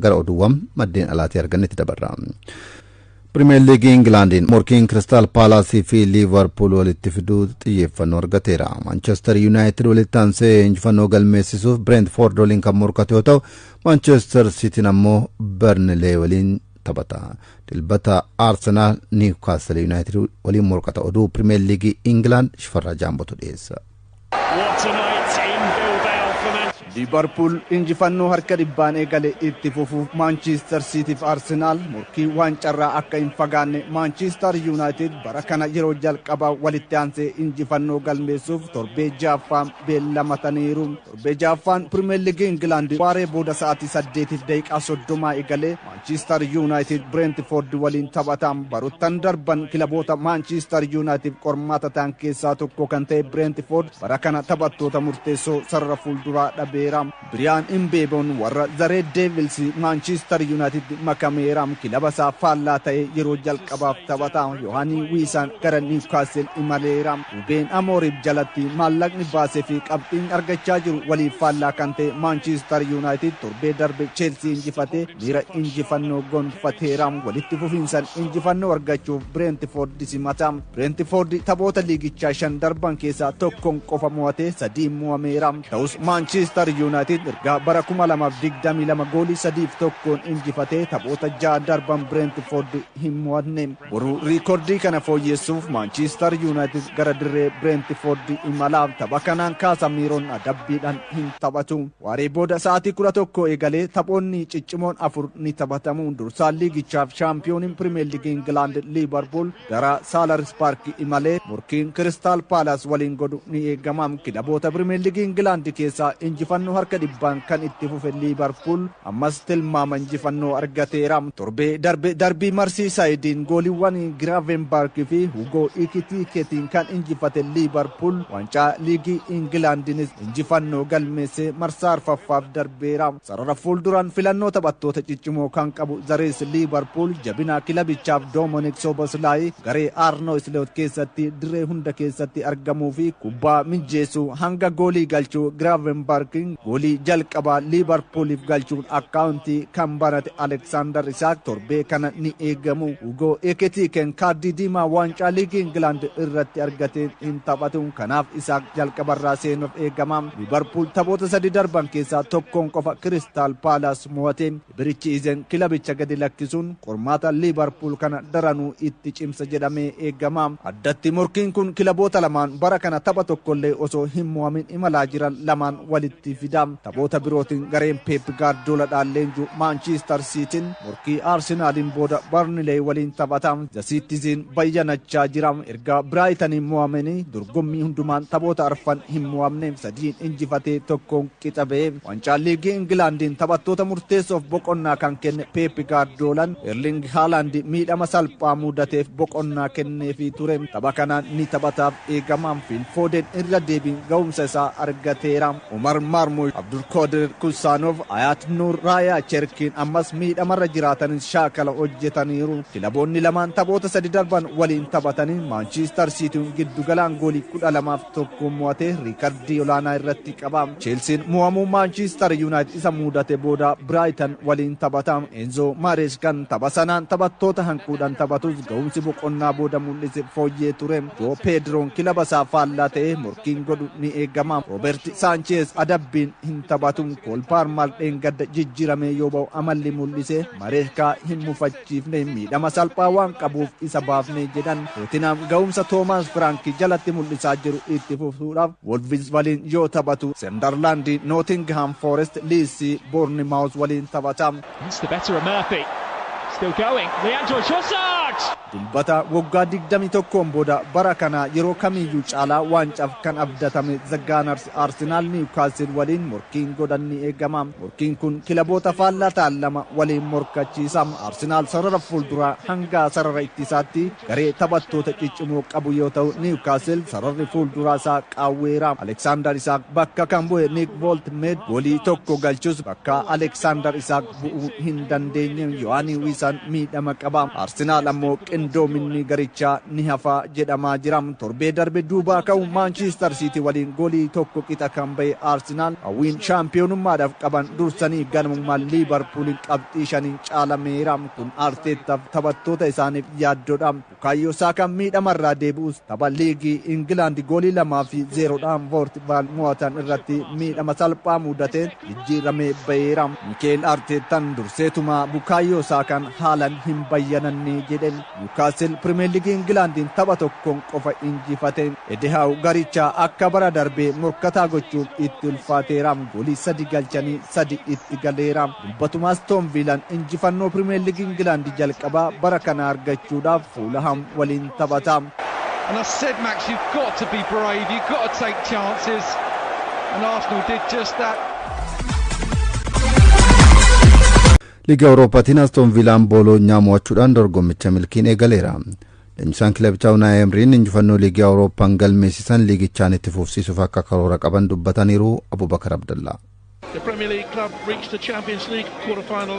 gara oduuwwan maddeen alaatii argannetti dabarra. Pirimeer Liigii Ingilaandiin morkiin Kiristaal Paalaasii fi Liivarpuul walitti fiduu xiyyeeffannoo argateera. Maanchestar Yuunaayitid walitti aansee injifannoo galmeessisuuf Bireentfoord waliin kan morkate yoo ta'u, Maanchestar Siitiin ammoo Barnilee waliin taphata. Dilbata Arsenaal Niwkaastil Yuunaayitid waliin morkata. Oduu Pirimeer Liigii Ingilaand Shifarraa Jaambotu dhiyeessa. Liivarpuul injifannoo harka dhibbaan eegale itti fufuuf Maanchiistar Siitii fi Arsenaal morkii waancarraa akka hin fagaanne Maanchiistar Yuunaayitid bara kana yeroo jalqabaa walitti aansee injifannoo galmeessuuf torbee ja'affaan beellamataniiru. Torbee ja'affaan Pirimeer Liigii Ingilaand waaree booda sa'aatii saddeetiif daqiiqaa soddomaa eegalee Maanchiistar Yuunaayitid Bireentifoord waliin taphata. Barottan darban kilaboota Maanchiistar Yuunaayitid qormaata ta'an keessaa tokko kan ta'e Bireentifoord bara kana taphattoota murteessoo sarara fuulduraa dhabeera. Biriyaan Imbeeboon warra The Red Devils Maanchiistar Yuunaayitidtti makameera. Kilaba isaa faallaa ta'ee yeroo jalqabaaf taphata. Yohaanii Wiisaan gara Niiwkaastil imaleera. Rubeen Amooriim jalatti maallaqni baasee fi qabxiin argachaa jiru waliif faallaa kan ta'e Maanchiistar Yuunaayitid torbee darbe Cheelsii injifatee miira injifannoo gonfateera. Walitti fufiinsan injifannoo argachuuf Bireentifoordi simata. Bireentifoordi taphoota liigichaa shan darban keessaa tokkon qofa mo'atee sadiin mo'ameera. Ta'us Maanchiistar Yuunaayitid ergaa bara 2022 goolii sadiif tokkoon injifatee taphoota ja'a darban Bireentifoordi hin mo'atne. Boru riikordii kana fooyyeessuuf Maanchiistar Yuunaayitid gara dirree Bireentifoordi imala. Tapha kanaan Kaasamiiroon adabbiidhaan hin taphatu. Waaree booda sa'aatii 11 eegalee taphoonni ciccimoon afur ni taphatamu. Dursaan liigichaaf shaampiyooniin Pirimeerliigii Ingilaand Liivarpuul gara Saalarsbaargi imalee morkiin Kiristaal Paalaas waliin godhu ni eegama. Kilaboota Pirimeerliigii Ingilaand keessaa injifannoo harka dhibbaan kan itti fufe Liivarpuul, Ammas tilmaama injifannoo argateera. Torbee darbe darbii Marsiisaayidiin gooliiwwan Giraavenbark fi Hugoo Ikitiikeetiin kan injifate Liivarpuul waancaa liigii Ingilaandiinis injifannoo galmeessee marsaa arfaffaaf darbeera. Sarara fuulduraan filannoo taphattoota ciccimoo kan qabu The Reds Liivarpuul jabina kilabichaaf Doomonik Soboslaayi garee Aarnoo Isloot keessatti dirree hunda keessatti argamuu fi kubbaa mijjeessuu hanga goolii galchuu Giraavenbark Goolii jalqabaa Liivarpuuliif galchuun akkaawuntii kan banate Aleksaandar Isaak torbee kana ni eegamu. Hugoo Ekitiikeen kaardii diimaa waancaa liigii Ingilaand irratti argateen hin taphatu. Kanaaf Isaak jalqabarraa seenuuf eegama. Liivarpuul taphoota sadii darban keessaa tokkoon qofa Kiristaal Paalaas mo'ate. Birichi Izen kilabicha gadi lakkisuun qormaata Liivarpuul kana daranuu itti cimsa jedhamee eegama. Addatti morkiin kun kilaboota lamaan bara kana tapha tokkollee osoo hin mo'amin imalaa jiran lamaan walitti fida. Taphoota birootiin gareen Peep Gaardiyooladhaan leenju Maanchiistar Siitiin morkii Arsenaaliin booda Barnileey waliin taphata. The Citizen bayyanachaa jira. Erga Biraayitaniin mo'ameenii dorgommii hundumaan taphoota arfan hin mo'amne, sadiin injifatee tokkoon qixa ba'e. Wancaan Liigii Ingilaandiin taphattoota murteessoof boqonnaa kan kenne Peep Gaardiyoolaan, Erling Haalaand miidhama salphaa muudateef boqonnaa kenneefii ture. Tapha kanaan ni taphataaf eegama. Fiil Fooden irra deebiin gahumsa isaa argateera. Umar Maarmuush, Abdulkoodir Kusaanov, Ayaat Nuur, Raayaa Cherkiin ammas miidhamarra jiraatanis shaakala hojjetaniiru. Kilaboonni lamaan taphoota sadi darban waliin taphataniin Maanchiistar Siitiin giddugalaan goolii 12f tokkoon mo'atee riikardii olaanaa irratti qaba. Cheelsiin mo'amuu Maanchistar Yuunaayitid isa muudate booda Biraayitan waliin taphata. Eenzoo Maareeskaan tapha sanaan taphattoota hanquudhaan taphatus gahumsi boqonnaa booda mul'ise fooyyee ture. Joo Peediroon kilaba isaa faallaa ta'ee morkiin godhu ni eegama. Rooberti Saancheez adabbiin hin taphatu. Kool Paarmaar dheengadda jijjiiramee yoo ba'u amalli mul'ise Mareeskaa hin mufachiisu. yaadachiifne miidhama salphaa waan qabuuf isa baafne jedhan. Tootinaam gahumsa Toomaas Firaanki jalatti mul'isaa jiru itti fufuudhaaf Wolvis waliin yoo taphatu, Sendarlaandi Nootingihaam Foorest, Liidsi Boornimaawuz waliin taphata. That's the better of Murphy. Still going. Leandro Trossard! Dilbata waggaa 21n booda bara kana yeroo kamiiyyuu caalaa waancaaf kan abdatame The Gunners Kanaarratti Arsenaal Niwkaasil waliin morkiin godhan ni eegama. Morkiin kun kilaboota faallaa ta'an lama waliin morkachiisa. Arsenaal sarara fuulduraa hanga sarara ittisaatti garee taphattoota ciccimoo qabu yoo ta'u, Niwkaasil sararri fuulduraa isaa qaawweera. Aleksaandar Isaak bakka kan bu'e Niik Vooltmeed goolii tokko galchus bakka Aleksaandar Isaak bu'uu hin dandeenye. Yohaanii Wiisaan miidhama qaba. Arsenaal ammoo qindoominni garichaa ni hafa jedhamaa jira. Torbee darbe duubaa ka'u Maanchistar Siitii waliin goolii tokko qixa kan ba'e Arsenaal hawwiin shaampiyoonummaadhaaf qaban dursanii ganamuma Liivarpuuliin qabxii shaniin caalameera. Kun Arteettaaf taphattoota isaaniif yaaddoodha. Bukaayyoo Saakaan miidhama irraa deebi'us tapha liigii Ingilaandi goolii 2 fi 0 dhaan Voortivaal mo'atan irratti miidhama salphaa muudateen jijjiiramee baheera. Mikeel Arteettan durseetuma Bukaayyoo Saakaan haalan hin bayyananne jedhe. Niwukaastil Pirimeer Liigii Ingilaandiin tapha tokkoon qofa injifate. Edihaaw garicha akka bara darbee morkataa gochuun itti ulfaateera. Goolii 3 galchanii 3 itti galeera. Dilbatuma Astoon Viilaan injifannoo Pirimeer Liigii Ingilaandi jalqabaa bara kanaa argachuudhaaf Fuulaham waliin taphata. And I said, Max, you've got to be brave, you've got to take chances. And Arsenal did just that. Liiga Awurooppaatiin Astoon Viilaan Booloonyaa mo'achuudhaan dorgommicha milkiin eegaleera. Leenjisaan kilabichaa Unaay Emriin injifannoo liigii Awurooppaan galmeessisan liigichaan itti fufsiisuuf akka karoora qaban dubbataniiru Abubakar Abdallaa.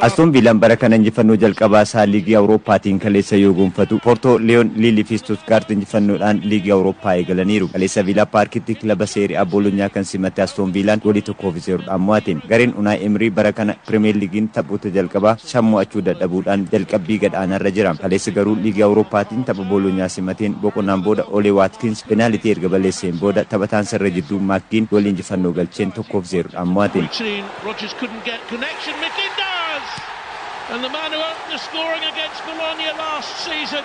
Astoon Viilaan bara kana injifannoo jalqabaa isaa Liigii Awurooppaatiin kaleessa yoo gonfatu, Poortoo, Liyoon, Liil fi Istuutgaart injifannoodhaan Liigii Awurooppaa eegalaniiru. Kaleessa Viilaa Paarkitti kilaba Seeri A Boolonyaa kan simatte Astoon Viilaan goolii 1 fi 0 dhaan mo'ate. Gareen Unaay Emrii bara kana Pirimeer Liigiin taphoota jalqabaa. San mo'achuu dadhabuudhaan jalqabbii gad aanaarra jira. Kaleessa garuu Liigii Awurooppaatiin tapha Boolonyaa simateen boqonnaan booda Olee Waatkins penaalitii erga balleesseen booda taphataan sarara jidduu Maak Giin goolii injifannoo galcheen 1 fi 0 dhaan mo'ate.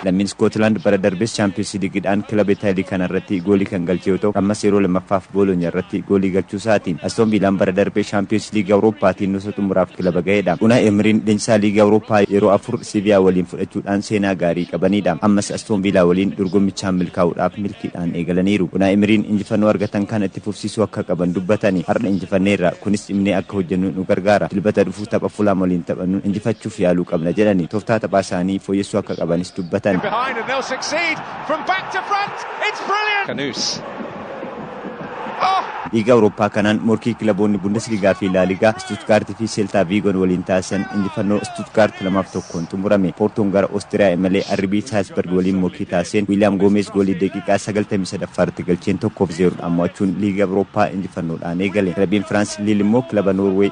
Lammiin Iskootilaand bara darbes Chaampiyoonsi Ligiidhaan kilaba Itaalii kana irratti goolii kan galche yoo ta'u, ammas yeroo lammaffaaf Boolonyaa irratti goolii galchuu isaati. Astoon Viilaan bara darbe Shaampiyoonsi Liigii Awurooppaatiin nuusa xumuraaf kilaba gahedha. Unaay Emiriin leenjisaa Liigii Awurooppaa yeroo afur Seviyaa waliin fudhachuudhaan seenaa gaarii qabaniidha. Ammas Astoon Viilaa waliin dorgommichaan milkaa'uudhaaf milkiidhaan eegalaniiru. Unaay Emiriin injifannoo argatan kana itti fufsiisuu akka qaban dubbatani. Har'a injifanneerra. Kunis cimnee akka hojjennu nu gargaara. Dilbata dhufu. tapha Fulaam waliin taphannu injifachuuf yaaluu qabna jedhanii toftaa taphaa isaanii fooyyessuu akka qabanis dubbatan. Liiga Awurooppaa kanaan morkii kilaboonni Bundesligaa fi Laaligaa Istuutgaart fi Seeltaa Viigon waliin taasisan injifannoo Istuutgaart 2 fi 1n xumurame. Poortoon gara Oostiriyaa imalee RB Saalzbarg waliin morkii taasiseen Wiiliyaam Goomeez goolii daqiiqaa 93ffaa irratti galcheen 1 fi 0dhaan mo'achuun Liiga Awurooppaa injifannoodhaan eegale. Kilabiin Firaans Liil immoo kilaba Noorweey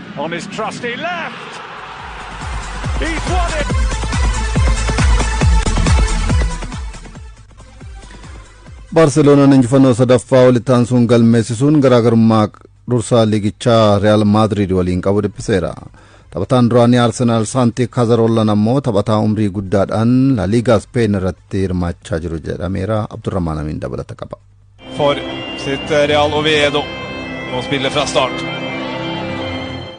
On his trusty left. He's won it. Baarseloonaan injifannoo sadaffaa walitti aansuun galmeessisuun garaagarummaa dursaa liigichaa Riyaal Maadriid waliin qabu dhiphiseera. Taphataan duraanii Arsenaal Saantii Kaazaroollan ammoo taphataa umrii guddaadhaan Laaliigaa Speen irratti hirmaachaa jiru jedhameera. Abdurrahmaan Amiin dabalata qaba. for sitt eh, Real Oviedo. Nå spiller fra start.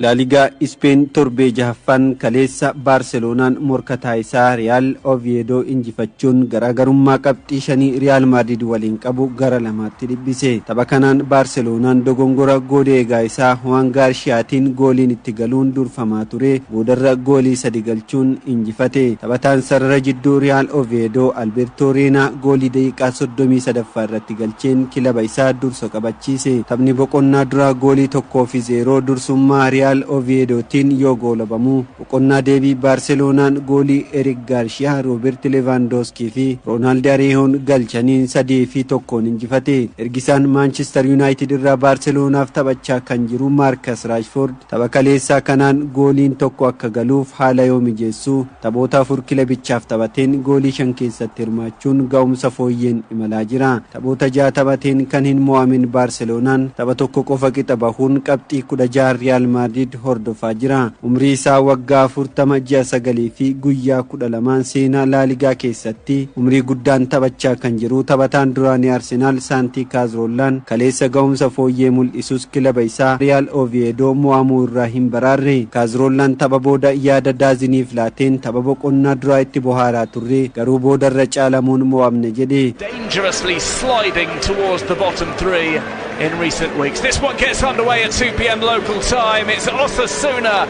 Laaligaa Ispeen torbee jahaffaan kaleessa Baarseloonaan morkataa isaa Riyaal Oviedo injifachuun garaagarummaa qabxii shanii Riyaal Maadrid waliin qabu gara lamaatti dhibbise. Tapha kanaan Baarseloonaan dogongora goodee eegaa isaa Huwaan Gaarshiyaatiin gooliin itti galuun durfamaa ture boodarra goolii sadi galchuun injifate. Taphataan sarara jidduu Riyaal Oveedoo Albeertoo Reenaa goolii daqiiqaa soddomii sadaffaa irratti galcheen kilaba isaa dursa qabachiise. Taphni boqonnaa duraa goolii tokkoo fi zeeroo dursummaa Riyaal Oviyeedootiin yoo goolabamu, boqonnaa deebii Baarseloonaan goolii Erik Gaarshiyaa, Rooberti Levaandooskii fi Roonaaldi Areehoon galchaniin sadii fi tokkoon injifate. Ergisaan Maanchistar Yunaayitid irraa Baarseloonaaf taphachaa kan jiru Maarkas Raashfoord, Tapha kaleessaa kanaan gooliin tokko akka galuuf haala yoo mijeessu, taphoota afur kilebichaaf taphateen goolii shan keessatti hirmaachuun ga'umsa fooyyeen imalaa jira. Taphoota ja'a taphateen kan hin mo'amin Baarseloonaan tapha tokko qofa qixa bahuun qabxii kudha ja'a Riyaal Maadriid hordofaa jira. Umrii isaa waggaa afurtama, ji'a sagalii fi guyyaa 12n seenaa Laaligaa keessatti umrii guddaan taphachaa kan jiru taphataan duraanii Arsenaal Saantii Kaazroollaan kaleessa gahumsa fooyyee mul'isus kilaba isaa Riyaal Oviyeedoo mo'amuu irraa hin baraarre. Kaazroollaan tapha booda yaada Daaziniif laateen tapha boqonnaa duraa itti bohaaraa turre garuu booda irra caalamuun mo'amne jedhe. dangerously sliding towards the bottom three in recent weeks. This one gets underway at 2 pm local time, it's Osasuna.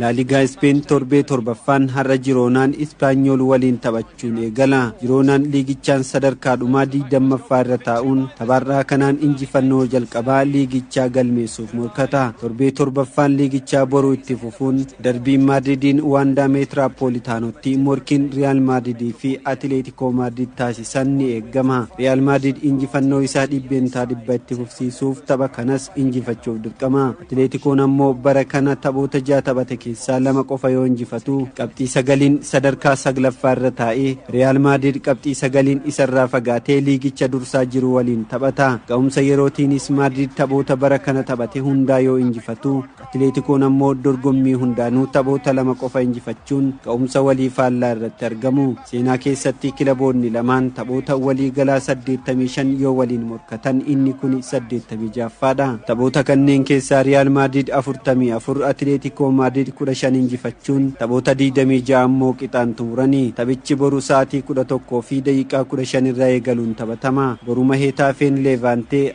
Laaligaa Ispeen torbee torbaffaan har'a Jiroonaan Ispaanyool waliin taphachuun eegala. Jiroonaan liigichaan sadarkaa dhumaa 20ffaa irra taa'uun tapha har'aa kanaan injifannoo jalqabaa liigichaa galmeessuuf morkata. Torbee torbaffaan liigichaa boru itti fufuun darbiin Maadridiin Waandaa Meetiraapoolitaanootti morkiin Riyaal Maadridii fi Atileetikoo rakkoo Maadriid taasisan ni eegama. Riyaal Maadriid injifannoo isaa 100% itti fufsiisuuf tapha kanas injifachuuf dirqama. Atileetikoon ammoo bara kana taphoota 6 taphate keessaa 2 qofa yoo injifatu qabxii 9n sadarkaa 9ffaa irra taa'e. Riyaal Maadriid qabxii 9n isarraa fagaatee liigicha dursaa jiru waliin taphata. Ga'umsa yerootiinis Maadriid taphoota bara kana taphate hundaa yoo injifatu. Atileetikoon ammoo dorgommii hundaanuu taphoota lama qofa injifachuun ga'umsa walii faallaa irratti argamu. Seenaa keessatti kilaboonni lamaan taphoota walii galaa 85 yoo waliin morkatan inni kuni 86ffaadha. Taphoota kanneen keessaa Riyaal Maadriid 44, Atileetikoo Maadriid 15 injifachuun taphoota 26 ammoo qixaan xumurani. Taphichi boru sa'aatii 11:15 irra eegaluun taphatama. Boruma Heetaafeen Leevaantee,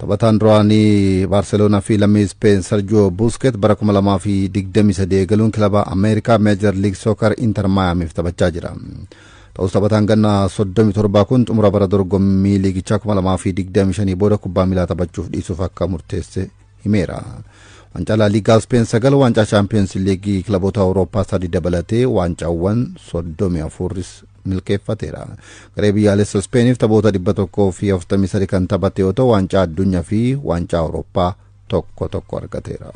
Taphataan duraanii Baarseloonaa fi lammii Ispeen Sarjoo Buusket bara 2023 eegaluun kilaba Ameerikaa Meejar Liig Sookar Inter Maayaamiif taphachaa jira. Ta'us taphataan ganna 37 kun xumura bara dorgommii liigichaa 2025 booda kubbaa miilaa taphachuuf dhiisuuf akka murteesse himeera. Waancaa Laa Liigaa Ispeen 9, Waancaa Chaampiyoonsi Liigii kilaboota Awurooppaa 3 dabalatee waancaawwan 34 milkeeffateera. Garee biyyaalessa Ispeeniif taphoota 143 kan taphate yoo ta'u waancaa addunyaa fi waancaa Awurooppaa tokko tokko argateera.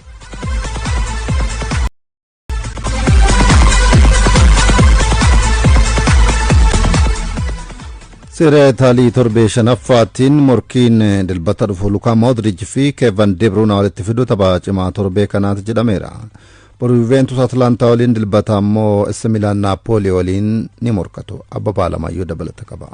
Seera Itaalii torbee shanaffaattiin morkiin dilbata dhufu Lukaa Moodrij fi Keevan Debruunaa walitti fiduu tapha cimaa torbee kanaati jedhameera. Boru Juventus Atlaantaa waliin dilbata ammoo Essa Milaan Naapoolii waliin ni morkatu. Abbabaa lamayyuu dabalata qaba.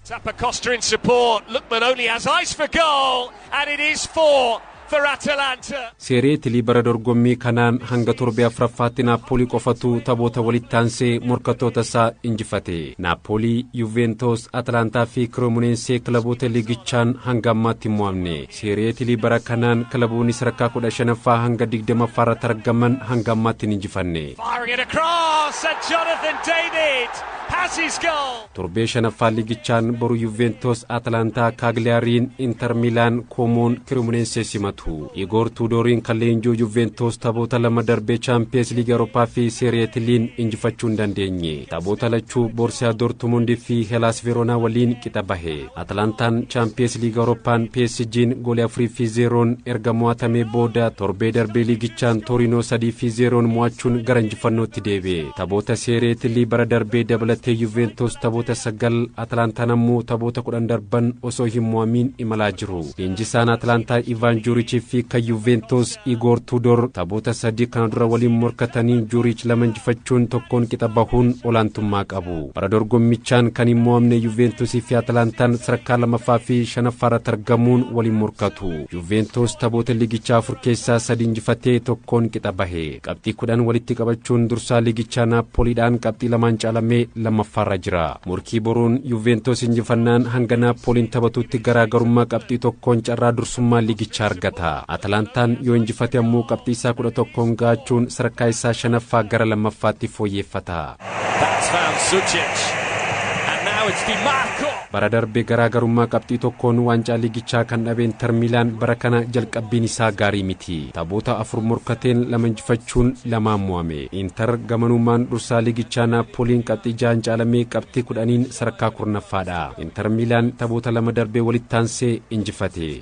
Tapa Costa in support. Lookman only has eyes for goal, and it is four for Atalanta. Seeree Itilii bara dorgommii kanaan hanga torbee afuraffaatti Naappoolii qofatu taphoota walitti aansee morkattoota isaa injifate. Naappoolii, Yuuveentoos, Atalaantaa fi Kiroomuneensee kilaboota liigichaan hanga ammaatti hin mo'amne. Seerii Itilii bara kanaan kilaboonni sadarkaa 15ffaa hanga 20ffaa irratti argaman hanga ammaatti hin injifanne. Firing it across and Jonathan David has his goal. Torbee shanaffaa liigichaan boru Yuuveentoos Atalaantaa Kaagliyaariin, Inter Miilaan, Koomoon, Kirimuneensees simatu. Igoor Tuudooriin kan leenji'u Yuuveentoos taphoota lama darbee Chaampiyeens Liigii Awurooppaa fi Seerii Itiliin injifachuu hin dandeenye. Taphoota lachuu Boorsiyaa Doortumundii fi Helaas Veeroonaa waliin qixa bahe. Atalantaan Chaampiyees Liiga Awurooppaan PSG'n goolii 4 fi 0n erga mo'atamee booda torbee darbee liigichaan Tooriinoo 3 fi 0n mo'achuun gara injifannootti deebi'e. Taphoota Seeree Itilii bara darbee dabalatee Yuuveentoos taphoota 9, Atalantaan ammoo taphoota 10 darban osoo hin mo'amiin imalaa jiru. Leenjisaan Atalantaa Ivaan Juurichii fi kan Yuuveentoos Igoor Tuudoor taphoota sadii kana dura waliin morkatanii Juuriich lama injifachuun tokkoon qixa bahuun olaantummaa qabu. Bara dorgommichaan kan hin mo'amne Yuuveentusii fi Atalantaan sadarkaa lamaffaa fi shanaffaa irratti argamuun waliin morkatu. Yuuveentus taphoota liigichaa afur keessaa sadi injifatee tokkoon qixa bahe. Qabxii kudhan walitti qabachuun dursaa liigichaa Naappooliidhaan qabxii lamaan caalamee lammaffaarra jira. Morkii boruun Yuuveentus injifannaan hanga Naappooliin taphatutti garaagarummaa qabxii tokkoon carraa dursummaa liigichaa argata. Atalantaan yoo injifate ammoo qabxii isaa 11n gahachuun sadarkaa isaa shanaffaa gara lammaffaatti fooyyeeffata. Bara darbe garaa garummaa qabxii tokkoon waancaa liigichaa kan dhabe Inter Miilaan bara kana jalqabbiin isaa gaarii miti. Taphoota afur morkateen lama injifachuun lamaan mo'ame. Inter gamanumaan dursaa liigichaa Naappooliin qabxii jahaan caalamee qabxii 10n sadarkaa 10ffaadha. Inter Miilaan taphoota lama darbe walitti aansee injifate.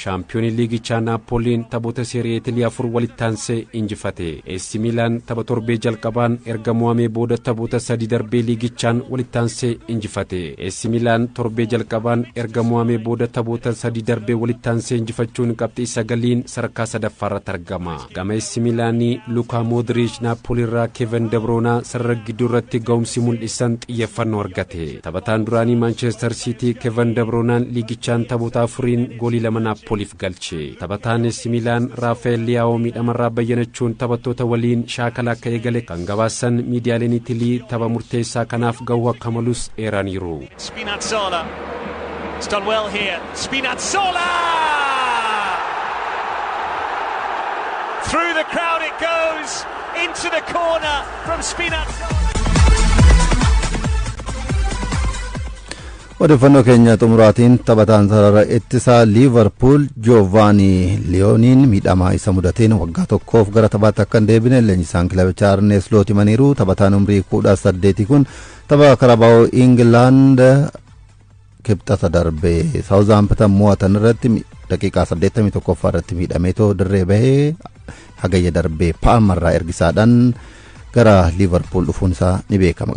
Shaampiyoonii liigichaa Naappooliin taphoota Seeri'ee Itilii afur walittaansee injifate. AC Miilaan tapha torbee jalqabaan erga mo'amee booda taphoota sadii darbee liigichaan walittaansee injifate. AC Miilaan torbee jalqabaan erga mo'amee booda taphoota sadii darbee walittaansee injifachuun qabxii sagaliin sadarkaa sadaffaarratti argama. Gama AC Miilaanii Lukaa Moodiriich Naappooliirraa Keevan Debroonaa sarara gidduu irratti ga'umsi mul'isan xiyyeeffannoo argate. Taphataan duraanii Maanchestar Siitii Keevan Debroonaan liigichaan taphoota afuriin goolii lama Naappooliif galche. Taphataan AC Miilaan Raafa'eel Liyaawoo miidhamarraa bayyanachuun taphattoota waliin shaakala akka eegale kan gabaasan miidiyaaleen Itilii tapha murteessaa kanaaf gahuu akka malus eeraniiru. Spinazzola. It's done well here. Spinazzola! Through the crowd it goes into the corner from Spinazzola. odeeffannoo keenya xumuraatiin taphataan sarara ittisaa liivarpuul joovaanii liyooniin miidhamaa isa mudateen waggaa tokkoof gara taphaatti akka hin deebine leenjisaan kilabichaa arnees loot himaniiru taphataan umrii kudha saddeetii kun Tapha Karabaa'oo Ingilaand kibxata darbe Saawuzaamptan mo'atan irratti daqiiqaa 81ffaa irratti miidhamee too dirree bahee hagayya darbee paalmarraa ergisaadhaan gara liivarpuul dhufuun isaa ni beekama.